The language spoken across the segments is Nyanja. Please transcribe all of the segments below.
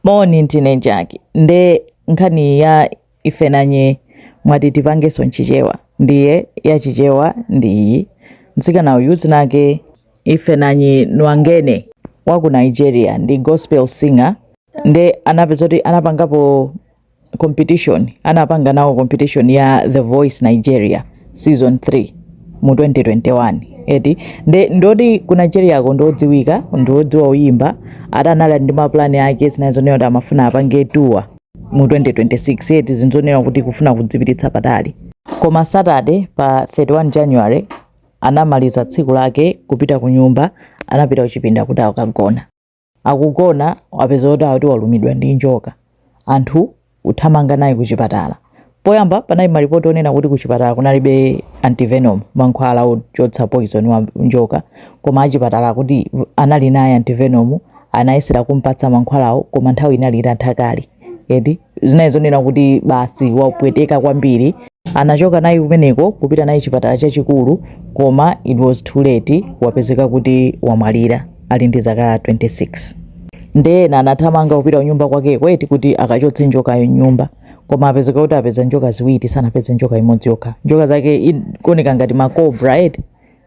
Moni ndine Jack nde nkhani ya Ifunanya mwati tipangenso nchichewa ndiye ya chichewa ndi iyi mtsikana uyu dzina lake Ifunanya Nwangene wa ku nigeria ndi gospel singer nde anapeza kuti anapangapo competition anapanga nawo competition ya The Voice Nigeria season 3 mu 2021 eti nde ndoti ku Nigeriako ndodziwika ndodziwa uyimba ati anali ndi mapulani ake zinali zonena kuti amafuna apange tour mu 2026 eti zinthu zonena kuti kufuna kudzipititsa patali koma Saturday pa 31 January anamaliza tsiku lake kupita ku nyumba anapita kuchipinda kuti akagona akugona wapeza kuti akuti walumidwa ndi njoka anthu kuthamanga naye kuchipatala poyamba panali malipoti onena kuti kuchipatala kunalibe antivenom mankhwala ochotsa poison wa njoka koma achipatala akuti anali naye antivenom anayesera kumpatsa mankhwalawo koma nthawi inali itatha kale eti zinali zonena kuti basi wapweteka kwambiri anachoka naye kumeneko kupita naye chipatala chachikulu koma it was too late wapezeka kuti wamwalira ali ndi zaka 26 nde ena anathamanga kupita kunyumba kwakeko eti kuti akachotse njokayo mnyumba koma apezeka kuti apeza njoka ziwiri sanapeze njoka imodzi yokha njoka zake ikuoneka ngati makobra eti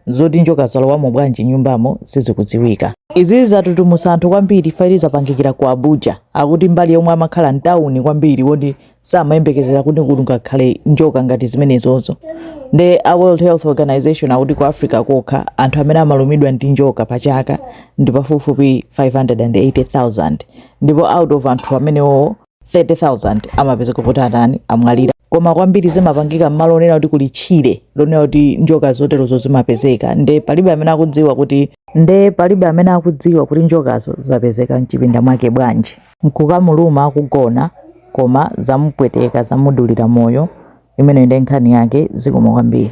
Zoti njoka zalowamo bwanji mnyumbamo sizikudziwika. Izi zatutumusa anthu kwambiri fact yoti zapangikira ku Abuja. Akuti mbali yomwe amakhala ndi mtauni kwambiri moti samayembekezera kuti kungakhale njoka ngati zimenezozo. Nde a World Health Organization akuti ku Africa kokha anthu amene amalumidwa ndi njoka pa chaka ndi pafupifupi 580,000 ndipo out of anthu amenewo 30,000 amapezeka kuti atani amwalira. koma kwambiri zimapangika m'malo onena kuti kuli tchire lonena kuti njoka zoterozo zimapezeka nde palibe amene akudziwa kuti nde palibe amene akudziwa kuti njokazo zapezeka mchipinda mwake bwanji nkukamuluma akugona koma zamupweteka zamudulira moyo imeneyo ndiye nkhani yake zikomo kwambiri